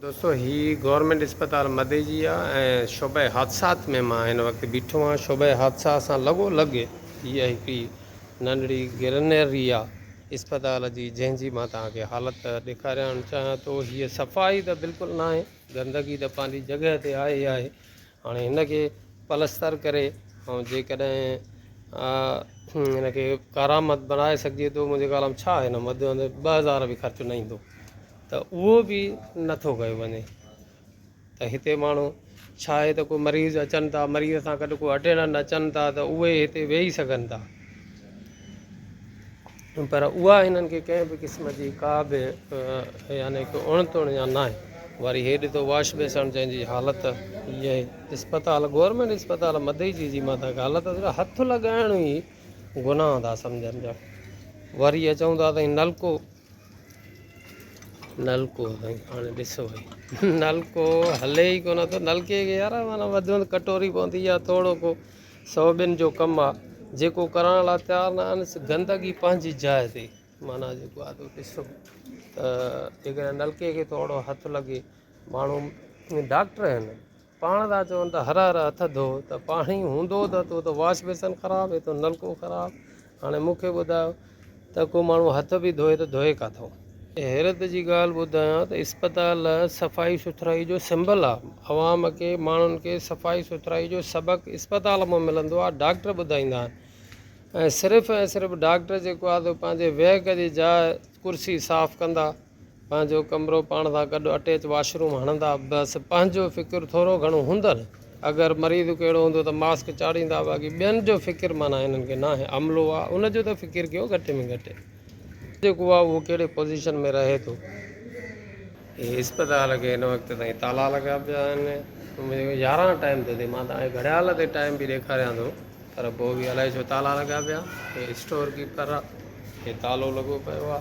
دوستو هي گورنمينٽ اسپتال مديجي آ ۽ شعبه حادثات ۾ مان هن وقت بيٺو آهيان شعبه حادثات سان لڳو لڳ هيء هڪڙي ننڍڙي گرنري آ اسپتال جي جنهن جي مان توهان کي حالت ڏيکاريان چاهيان ٿو هيء صفائي ته بلڪل ناهي گندگي ته پنهنجي جڳهه تي آهي ئي آهي هاڻي هن کي پلستر ڪري ۽ جيڪڏهن هن کي ڪارآمد بڻائي سگهجي ٿو منهنجي خيال ۾ ڇا هن وڌ ۾ وڌ ٻه هزار به خرچ نه ايندو ته اهو به نٿو ڪيو وڃي ته هتي ماڻهو ڇا آهي ته ڪو مريض اچن ٿا مريض سان گڏ ڪو اٽينڊنٽ اچن ٿا ته اهي هتي ويهي سگهن ٿا پر اها هنن کي ڪنهن به قسم جي ڪا به يعني ڪو اڻ تڻ يا ناهي. وري هي ڏٺو واش بيسڻ جنهن جي حالت هيء اسپتال گورنمينٽ اسپتال مدئي جي جي مان تائين حالت صرف هٿ لڳائڻ ئي گناهه ٿا سمجهن ڄڻ. وري اهي چون ٿا سائين نلڪو نلڪو سائين هاڻي ڏسو نلڪو هلي ئي ڪونه ٿو نلڪي کي يار معنيٰ وڌ ۾ وڌ ڪٽوري پوندي يا ٿورو ڪو سو ٻين جو ڪم آ جيڪو ڪرڻ لا تيار نه آھن سو گندگي پنھنجي جاء تي معنيٰ جيڪو آ تھ اتي سھھ تھ جيڪڏھن نلڪي کي ٿورڙو ھٿ لڳي ماڻھو ڊاڪٽر آھن پاڻ ٿا چون تھ ھر ھر ھٿ ڌو تھ پاڻي ھوندو تھ اتو تھ واش بيسن خراب اتو نلڪو خراب هاڻي مون کي ٻڌايو ته ڪو ماڻهو هٿ به ڌوئي ته ڌوئي ڪاٿو؟ حيرت جي ڳالهه ٻڌايان ته اسپتال صفائي سٿرائي جو سمبل آ. عوام کي، ماڻهن کي صفائي سٿرائي جو سبق اسپتال مان ملندو آ، ڊاڪٽر ٻڌائيندا آهن ۽ صرف ۽ صرف ڊاڪٽر جيڪو آ سو پنهنجي ويهڪ جي جاء، ڪرسي، صاف ڪندا. پنهنجو ڪمرو پاڻ سان گڏ اٽيچ واش روم هڻندا بس پنهنجو فڪر ٿورو گهڻو هوندن اگر مريض ڪو اهڙو هوندو ته ماسڪ چاڙهيندا باقي ٻين جو فڪر معنيٰ هنن کي ناهي عملو آ ان جو ته فڪر ڪيو گهٽ ۾ گهٽ جيڪو آ اهو ڪهڙي پوزيشن ۾ رهي ٿو هي اسپتال کي هن وقت تائين تالا لڳا پيا آهن منهنجو يارهن ٽائيم ٿو ٿئي مان تاهي گهڙيال تي ٽائيم به ڏيکاريان ٿو پر پوء به الائي ڇو تالا لڳا پيا هي اسٽور ڪيپر آ هي تالو لڳو پيو آ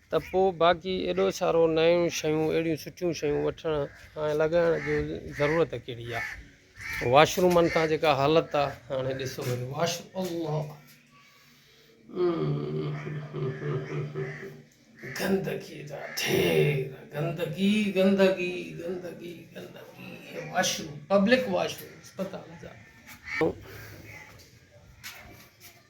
ته پوء باقي ايڏو سارو نيون شيون اهڙيون سٺيون شيون وٺڻ ۽ لڳائڻ جو ضرورت ڪهڙي آ. واش رومن تان جيڪا حالت آ هاڻي ڏسو وڃي واش الله گندگي جا ڍير گندگي گندگي گندگي گندگي هي washroom public washroom اسپتال جا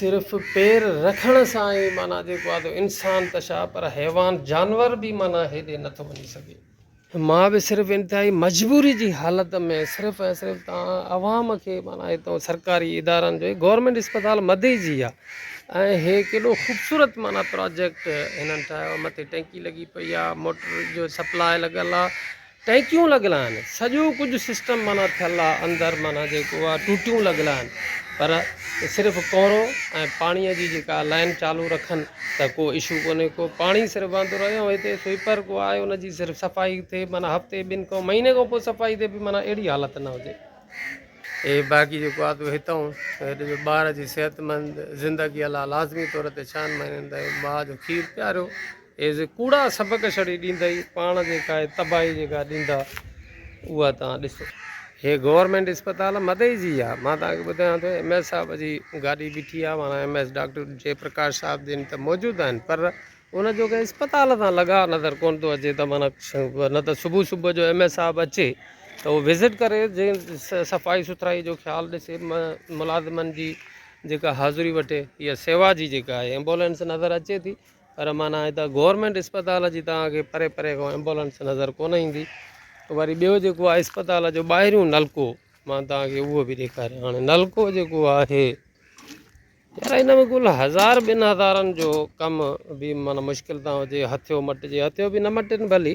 صرف پير رکڻ سان ئي معنيٰ جيڪو آهي انسان ته ڇا پر حيوان جانور به معنيٰ هيڏي نه ٿو وڃي سگهي. مان به صرف انتهائي مجبوري جي حالت ۾ صرف ۽ صرف توهان عوام کي معنيٰ هتو سرڪاري ادارن جو هي گورنمينٽ اسپتال مدئي جي آهي ۽ هي ڪيڏو خوبصورت معنيٰ پراجيڪٽ هنن ٺاهيو مٿي ٽينڪي لڳي پئي آهي موٽر جو سپلاء لڳل آهي ٽيڪيون لڳل آهن سڄو ڪجهه سسٽم معنيٰ ٿيل آهي اندر معنيٰ جيڪو آهي ٽوٽيون لڳل آهن پر صرف ڪورو ۽ پاڻي جي جيڪا لائين چالو رکن ته ڪو اشو ڪونهي ڪو پاڻي صرف وهندو رهي ۽ هتي سوئپر ڪو آهي ان جي صرف صفائي ٿئي معنيٰ هفتي ٻن کان مهيني کان پوء صفائي ٿئي بي معنيٰ اهڙي حالت نه هجي اي باقي جيڪو آهي هتان هت جو ٻار جي صحت مند زندگي لاء لازمي طور تي ڇهن مهينن تائين ماء جو کير پياريو ايز ڪوڙا سبق شڙي ڏيندئي پاڻ جي ڪاء تباهي جيڪا ڏيندا اها توهان ڏسو. هي گورنمينٽ اسپتال مدئي جي آ مان توهان کي ٻڌايان ٿو ايم ايس صاحب جي گاڏي بيٺي آ معنيٰ M S doctor G Prakash صاحب جن ته موجود آهن پر ان جو ڪنهن اسپتال سان لڳاء نظر ڪون ٿو اچي ته معنيٰ نه ته صبح صبح جو ايم ايس صاحب اچي ته اهو وزٽ ڪري جنهن صفائي سٿرائي جو خيال ڏسي ملازمن جي جيڪا حاضري وٺي يا سيوا جي جيڪا آهي ايمبولينس نظر اچي ٿي پر معنيٰ هتان گورنمينٽ اسپتال جي توهان کي پري پري کان ايمبولنس نظر ڪونه ايندي وري ٻيو جيڪو آهي اسپتال جو ٻاهريون نلڪو مان توهان کي اهو به ڏيکاريان هاڻي نلڪو جيڪو آهي يار هن ۾ ڪل هزار ٻن هزارن جو ڪم به معنيٰ مشڪل تان هجي هٿيو مٽجي هٿيو به نه مٽن ڀلي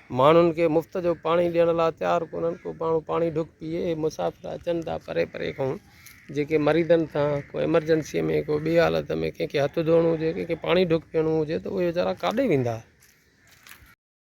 ماڻهن کي مفت جو پاڻي ڏيڻ لاء تيار ڪونهن ڪو ماڻهو پاڻي ڍڪ پيئي مسافر اچن ٿا پري پري کان جيڪي مريضن سان ڪو ايمرجنسي ۾ ڪو ٻي حالت ۾ ڪنهن کي هٿ ڌوئڻو هجي ڪنهن کي پاڻي ڍڪ پيئڻو هجي ته اهي ويچارا ڪاڏي ويندا